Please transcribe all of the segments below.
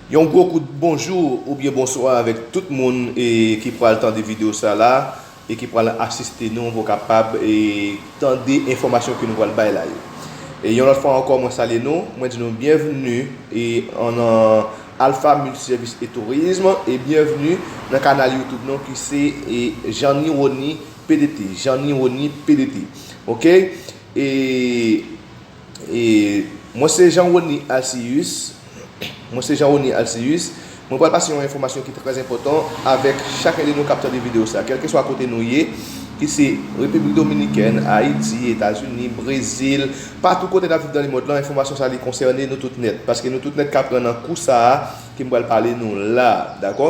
Yon gwo kout bonjou oubyen bonswa avèk tout moun ki pral tande video sa la e ki pral asiste nou pou kapab tande enfòmasyon ke nou pral bay la yo. Yon lòt fwa ankò mwen salye nou, mwen di nou byenvni nan Alpha Multiservice et Tourisme e byenvni nan kanal YouTube nou ki se Janny Rony pdt, Janny Rony pdt ok. Mwen se Jean Rony Alcius Mwen se Jean Rony Alcius Mwen pral pase yon enfòmasyon ki trè enpòtan avèk chakè de nou kap tande video sa kèlke swa kote nou ye ki se Repiblik Dominikèn, Ayiti, Etazini, Brezil patou kote nap viv nan lemond lan enfòmasyon sa li konsène nou tout nèt paske nou tout nèt kap pran nan kou sa ke m pral pale nou la dakò.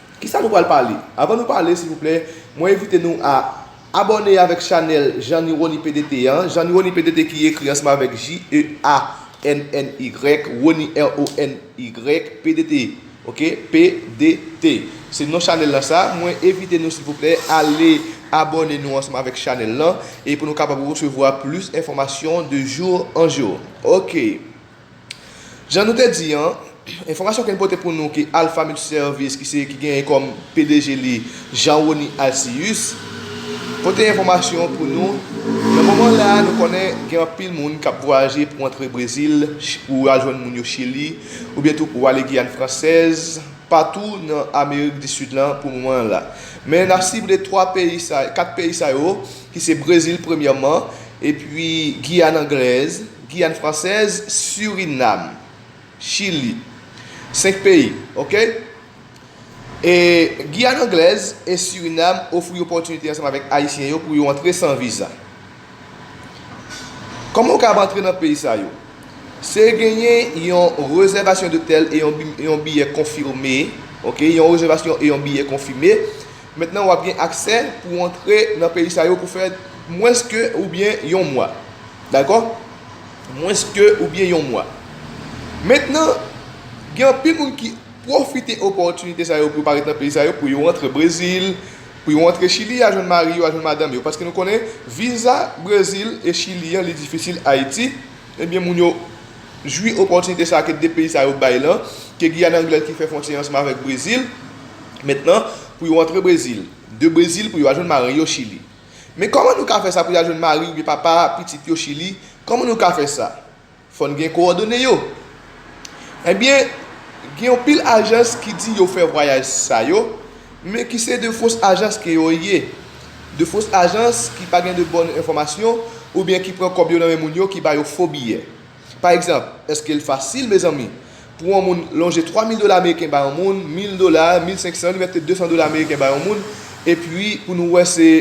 Kisa nou pral pale? Avan nou pale silvouplè mwen envite nou a Abòne avèk chanèl Jean Nirony PDT an, Jean Nirony PDT ki ekri ansanm avèk JEANNY Rony RONY PDT ok PDT se non chanèl lan sa, mwen envite nou silvouplè ale abòne nou ansanm avèk chanèl lan e pou nou kapab resevwa plis enfòmasyon de jour en jour ok. Jan nou te di an, enfòmasyon ke n pote pou nou ke Alpha Multiservice ki se ki genyen kòm pdg li Jean Rony Alcius pote enfòmasyon pou nou nan moman la nou konnen gen anpil moun kap vwayaje pou antre Brezil pou al jwenn moun yo Chili oubyen tou pou ale Guyane Française patou nan Amerik di Sid lan pou moman la men nap sible 3 peyi sa 4 peyi sa yo ki se Brezil premyèman epi Guyane Anglaise. Giyàn Fransèz, Surinam, Chili. 5 peyi. Ok. E Giyàn Anglèz e Surinam ofri opòtinite ansanm avèk Ayisyen yo pou yo antre san viza. Kòman ou kab antre nan peyi sa yo? Se genyen yon rezèvasyon dotèl e yon biyè konfime. Ok. Yon rezèvasyon e yon biyè konfime. Mentnan wap gen aksè pou antre nan peyi sa yo pou fè mwens ke oubyen yon mwa. Dakò? Mwens ke oubyen yon mwa. Mentnan, gen anpil moun ki pwofite opòtinite sa yo pou yo pa ret nan peyi sa yo pou yo antre Brezil, pou yo antre Chili a jwenn mari yo, a jwenn madanm yo. Paske nou konnen viza Brezil e Chili an li difisil Ayiti, ebyen moun yo. jwi opòtinite sa a ke 2 peyi sa yo bay lan, ke Giyàn Anglèz ki fè fwontyè ansanm avèk Brezil, mèt lan, pou yo antre Brezil, de Brezil pou yo al jwenn mari yo Chili. Men kòman nou ka fè sa pou y al jwenn mari oubyen papa pitit yo Chili? Kòman nou ka fè sa? Fò n gen kowòdone yo. Enben, gen yon pil ajans ki di yo fè vwayaj sa yo, Men ki se de fos ajans ke yo ye. De fos ajans ki pa gen de bòn enfòmasyon oubyen ki pran kòb yo nan men moun yo ki ba yo fo biyè. Pa egzanp, èske l fasil, mezanmi, pou yon moun lonje 3 mil dola ameriken ba yon moun, mil dola, mil senksan, li mèt te 200 dola ameriken ba yon moun, epi pou nou wè se.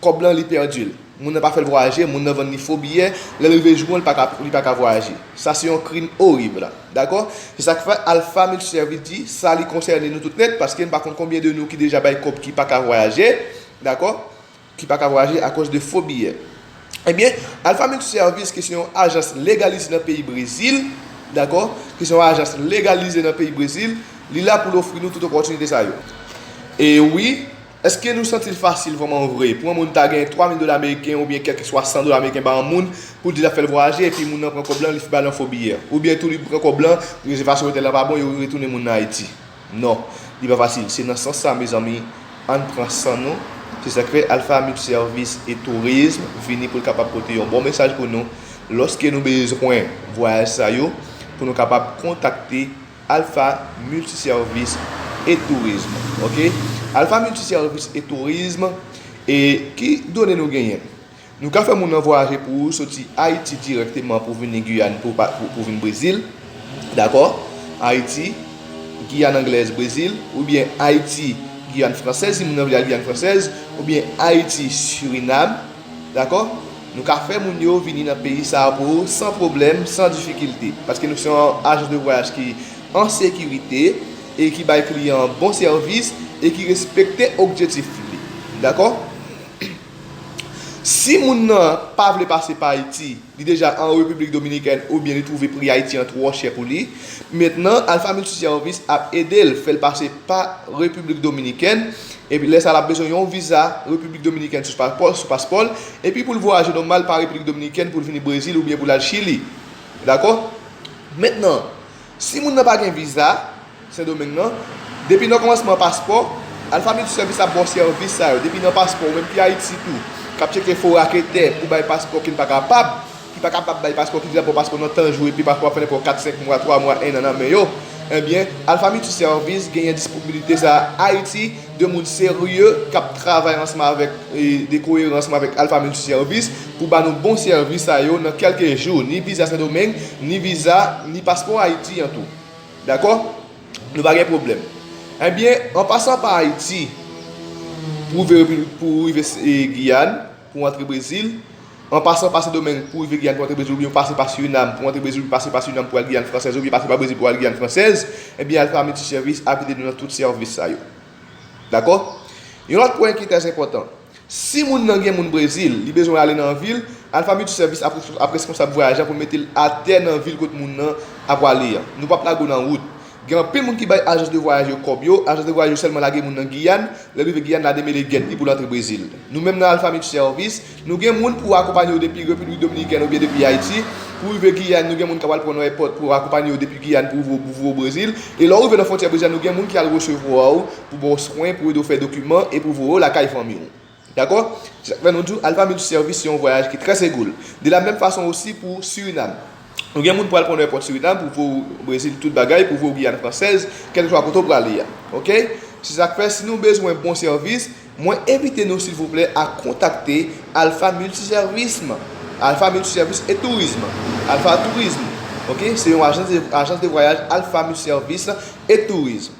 kòb lan li pèdi l, moun nan pa fè l vwayaje, moun nan vann li fo biyè, lè l rive jou an li pa ka vwayaje. Sa se yon krim orib. Dakò? Se sa k fè Alpha Mil Sèvis di sa li konsène nou tout nèt paske m pa konn konbyen de nou ki deja bay kòb ki pa ka vwayaje, dakò, ki pa ka vwayaje akòz de fo biyè. Ebyen, Alpha Mil Sèvis ki se yon ajans legalize nan peyi Brezil, dakò, ki se yon ajans legalize nan peyi Brezil, li la pou l ofri nou tout opòtinite sa yo. E wi! Eske nou santi l fasil vrèman vre pou yon moun ta gen 3 mil dola meriken oubyen kèlkeswa 100 dola meriken ba yon moun pou l di l ap fè l vwayaje epi moun nan pran kòb lan li ba l yon fo biyè? Oubyen tou li pran kòb lan, rezèvasyon otèl la pa bon yo retounen moun nan Ayiti? Non, li pa fasil. Se nan sans sa mezanmi an n pran san nou, se sa k fè Alpha Mip Sèvis e Tourism vini pou l kapab pote yon bon mesaj pou nou lòske nou bezwen vwayaj sa yo pou nou kapab kontakte Alpha Multiservice et Tourisme ok Alpha Multiservice et Tourisme e ki done nou genyen nou ka fè moun nan vwayaje pou ou soti Ayiti dirèkteman pou vini Guyane pou pou vin Brezil dakò Ayiti Guyane Anglaise Brezil oubyen Ayiti Guyane Française si moun nan vle al Guyane Française oubyen Ayiti Suriname. Dakò? Nou ka fè moun yo vini nan peyi sa a pou ou san pwoblèm, san difikilte. Paske nou se yon ajans de vwayaj ki an sekirite e ki bay kliyan an bon sèvis e ki respekte okjetif li. Dakò? Si moun nan pa vle pase pa Ayiti, Li deja an Repiblik Dominikèn oubyen li twouve pri Ayiti an twò chè pou li. Mentnan, Alpha Multiservice ap ede l fè l pase pa Repiblik Dominikèn. Epi lè sa l ap bezwen yon viza Repiblik Dominikèn sou paspò l. Epi pou l vwayaje nòmal pa Repiblik Dominikèn pou l vini Brezil oubyen pou l al Chili. Dakò? Mentnan, Si moun nan pa gen viza Sendomeng nan, depi nan kòmansman paspò, Alpha Multiservice ap ba w sèvis sa yo depi nan paspò ou menm ki Ayiti tou k ap tcheke fo raketè pou bay paspò ki n pa kapab, ki pa kapab bay paspò, ki di l ap ba w paspò nan tan jou epi paspò ap fè nenpò kat, senk mwa, twa mwa, ennan nan men yo. Enbyen, Alpha Multiservice genyen disponibilite sa a Ayiti. 2 moun serye k ap travay ansanm avèk de koyeran ansanm avèk Alpha Multi Service pou ba nou bon sèvis sa yo nan kèlke jou ni viza sendomeng ni viza ni paspò ayiti an tou dakò nou pa gen pwoblèm ebyen an pasan pa ayiti pou rive giyàn. pou antre Brezil, an pasan pa Sendomeng pou rive Giyàn pou antre Brezil oubyen ou pase pa Surinam pou antre Brezil oubyen pase pa Surinam pou al Giyàn Fransèz oubyen pase pa Brezil pou al Giyàn Fransèz, ebyen Alfa Multi Service ap ede nou nan tout sèvis sa yo. Dakò? Yon lòt pwen ki trè enpòtan. Si moun nan gen moun Brezil, li bezwen ale nan yon vil, Alfa Multi Service ap ap reskonsab vwayaj la pou l mete l atè nan vil kot moun nan ap wale an. Nou pap lage w nan wout. Gen anpil moun ki bay ajans de vwayaj yo kòb yo, ajans de vwayaj yo sèlman lage moun nan Giyàn, lè l rive Giyàn la demele gèt li pou l antre Brezil. Nou menm nan Alpha Mitch Service, nou gen moun pou akonpanye yo depi Repiblik Dominikèn oubyen depi Ayiti, pou rive Giyàn nou gen moun k ap al pran w nan èpòt pou akonpanye w depi Giyàn pou voye w Brezil, e lè w rive nan fwontyè Brezil la nou gen moun ki al resevwa w pou ba w swen, pou ede w fè dokiman e pou voye w lakay fanmi w. Dakò? Se sa k fè nou di w Alpha Multi Service se yon vwayaj ki trè segoul. De la menm fason osi pou Surinam. Ou gen moun pral pran w nan èpòt Surinam pou voye w Brezil tout bagay, pou voye w Giyàn Fransèz, kèlkeswa kote w prale a. Ok? Se sa k fè si nou bezwen bon sèvis, mwen envite nou silvouplè a kontakte Alpha Multi Service. Alpha Multi Service et Tourisme. Alpha Tourisme. Ok? Se yon ajans de vwayaj Alpha Multi Service et Tourisme.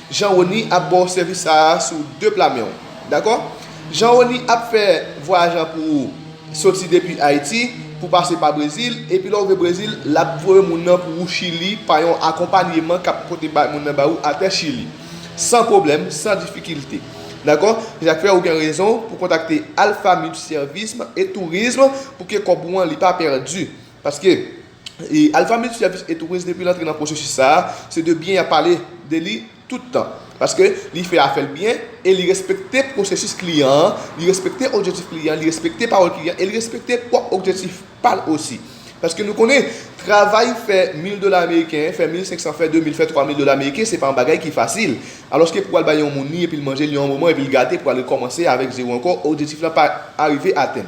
Jean Rony ap baw sèvis sa a sou 2 pla menw dakò Jean Rony ap fè vwayaj lan pou ou soti depi Ayiti pou pase pa Brezil epi lèw rive Brezil lap voye moun nan pou ou Chili pa yon akonpanyeman kap pote bay moun nan ba ou atè Chili san pwoblèm san difikilte dakò se sak fè ou gen rezon pou kontakte Alpha Multiservisme et Tourisme pou ke kòb ou an li pa pèdi. Paske, Alpha Multiservice et Tourisme depi l antre nan pwosesis sa a, se de byen y ap pale de li tout tan. Paske, li fè afè l byen e li respekte pwosesis kliyan an, li respekte objetif kliyan an, li respekte pawòl kliyan an e li respekte pwòp objetif pa l osi. Paske nou konnen, travay fè mil dola ameriken, fè mil senk san, fè de mil, fè twa mil dola ameriken, se pa yon bagay ki fasil. Alòske pou al bay yon moun li epi l manje li yon moman epi l gate pou al rekòmanse avèk zewo ankò, objetif lan pa arive atenn.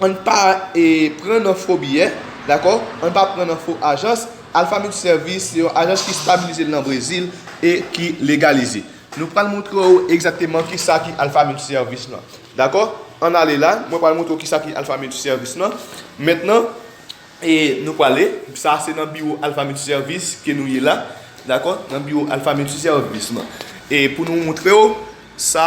Ann pa pran nan fo biyè, dakò, ann pa pran nan fo ajans, Alpha Mix Service se yon ajans ki stabilize nan Brezil e ki legalize. Nou pral montre ou egzakteman kisa ki Alpha Mix Service lan. Dakò, ann ale la, mwen pral montre ou kisa ki Alpha Mix Service lan. Mentnan, e nou prale, sa se nan biwo Alpha Mix Service ke nou ye la, dakò, nan biwo Alpha Mix Service lan. E pou nou montre ou sa.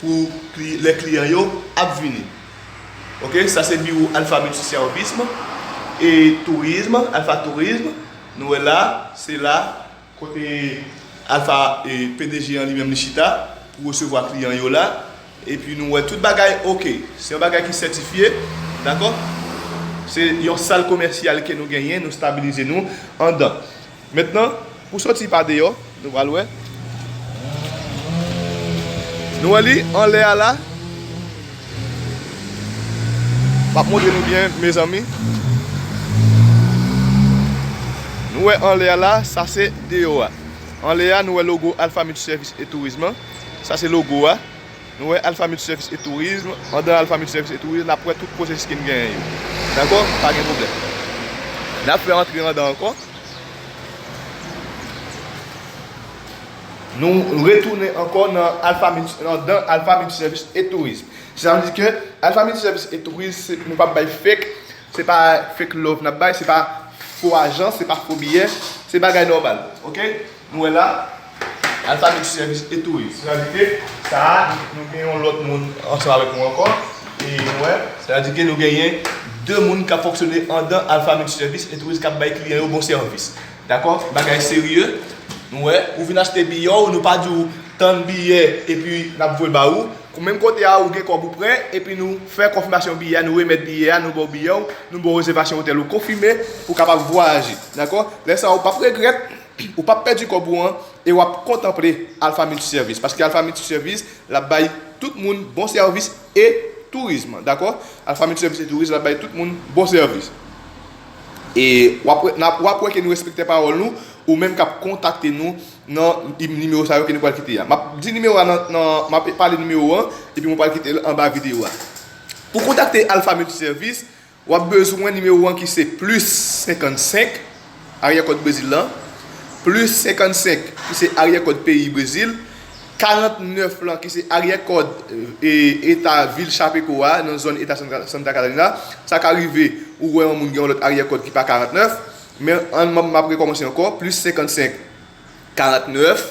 pou lè kliyan yo ap vini ok sa se biwo alfa miltisèvism e tourism alfa tourism nou wè la se la kote alfa pdg an li menm li chita pou resevwa kliyan yo la epi nou wè tout bagay ok se yon bagay ki sètifye dakò se yon sal komèsyal ke nou genyen nou stabilize nou andan. Mentnan, pou soti pa deyò, nou pral wè. Nou wè li anlè a la. Map montre nou byen mezanmi. Nou wè anlè a la, sa se deyò a. Anlè a nou wè logo Alpha Multiservice et Tourisme an. Sa se logo a. Nou wè Alpha Multiservice et Tourisme, andan Alpha Multiservice et Tourisme nap wè tout pwosesis kin genyen yo. Dakò? Pa gen pwoblèm. Nap fè antre andan ankò. Nou retounen ankò nan Alpha Multi, andan Alpha Multiservice et Tourisme. Sa vle di ke Alpha Multiservice et Tourisme se, nou pap bay fake, se pa fake love nap bay, se pa fo ajans, se pa fo biyè, se bagay nòmal. Ok? Nou wè la, Alpha Mix Service e Touris. Sa vle di ke sa a, nou gen yon lòt moun ansanm avèk nou ankò. E nou wè, sa vle di ke nou genyen 2 moun k ap fonksyone andan Alpha Mix Service e Touris k ap bay kliyan yo bon sèvis. Dakò? Bagay serye. Nou wè, ou vin achte biyè w, nou pa di w tann biyè epi n ap voye ba ou. Kou menm kote a, ou gen kòb ou prè, epi nou fè konfimasyon biyè a, nou remèt biyè a, nou ba w biyè w, nou ba w rezèvasyon otèl ou konfime pou w kapab vwayaje. Dakò? Lè sa a ou p ap regrèt. Ou pap pèdi kòb ou an e wap kontanple Alpha Multiservice paske Alpha Multiservice lap bay tout moun bon sèvis e tourism dakò Alpha Multiservice et tourism lap bay tout moun bon sèvis e wap wè nap wap wè ke nou respektè pawòl nou ou menm kap kontakte nou nan nimewo sa yo ke nou pral kite a map di nimewo a nan nan map pale nimewo an epi mwen pral kitel anba videyo a pou kontakte Alpha Multiservice Wap bezwen nimewo an ki se plis 55, aryè kòd Brezil lan, plis 55, ki se aryè kòd peyi Brezil, 49 lan, ki se aryè kòd eta vil Chapecó a, nan zòn eta Santa Catarina. Sa ka rive ou wè yon moun gen yon lòt aryè kòd ki pa 49, men an map rekòmanse ankò, plis 55, 49,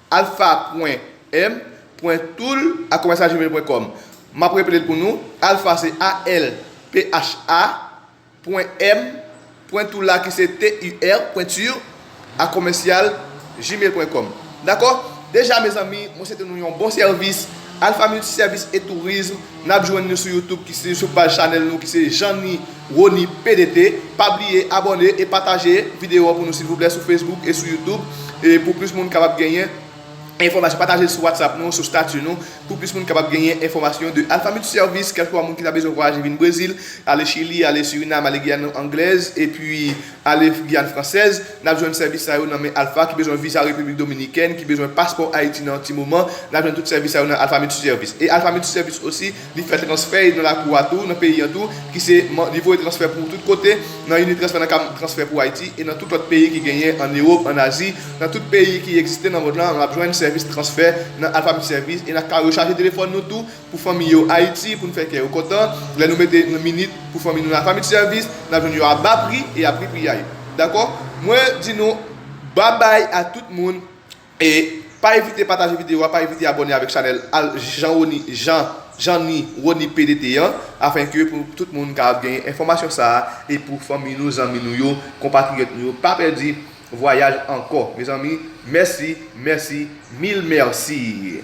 Alpha pwen M pwen toul a commercial gmail pwen com Map repelel pou nou Alpha se ALPHA pwen M pwen toul a ki se TUR pwen tur a commercial gmail pwen com Dakò deja mezanmi mwen swete nou yon bon sèvis Alpha multi service et tourisme nap jwenn nou sou YouTube ki se sou paj chanèl nou ki se Jeanny Rony PDT pa bliye abòne e pataje video an pou nou silvouplè sou Facebook e sou YouTube e pou plis moun kapab genyen enfòmasyon patajel sou WhatsApp nou sou statut nou pou plis moun kapab genyen enfòmasyon de Alpha Multi Service kèlkeswa moun ki ta bezwen vwayaje vin Brezil ale Chili ale Suriname ale Guyane Anglaise epi ale Guyane Française nap jwenn sèvis sa yo nan men Alpha ki bezwen viza République Dominicaine ki bezwen paspò Haïti nan ti moman nap jwenn tout sèvis sa yo nan Alpha Multi Service e Alpha Multi Service aussi Li fè transfè e nan lakou a tou, nan peyi an tou, ki se, li voye transfè pou tout kote, nan Unitransfer, nan Cam Transfer pou Ayiti, e nan tout lòt peyi ki genyen an Ewop, an Azi, nan tout peyi ki egziste nan mond lan, n ap jwenn sèvis transfè nan Alpha Mi Service, e n ap ka rechaje telefòn nou tou pou fanmi yo Ayiti, pou n fè kè yo kontan, lè nou mete yon minit pou fanmi nou nan Alpha Mi Service, n ap jwenn yo a ba pri e a pri priyay. Dakò? Mwen di nou, Babay a tout moun! E pa evite pataje video a, pa evite abone avek chanel al janroni jan janny rony pdt an afen ke pou tout moun ka ap genyen enfomasyon sa a e pou fanmi nou zanmi nou yo konpatriyot nou yo pa pèdi vwayaj anko mezanmi mèsi mèsi mil mèsii.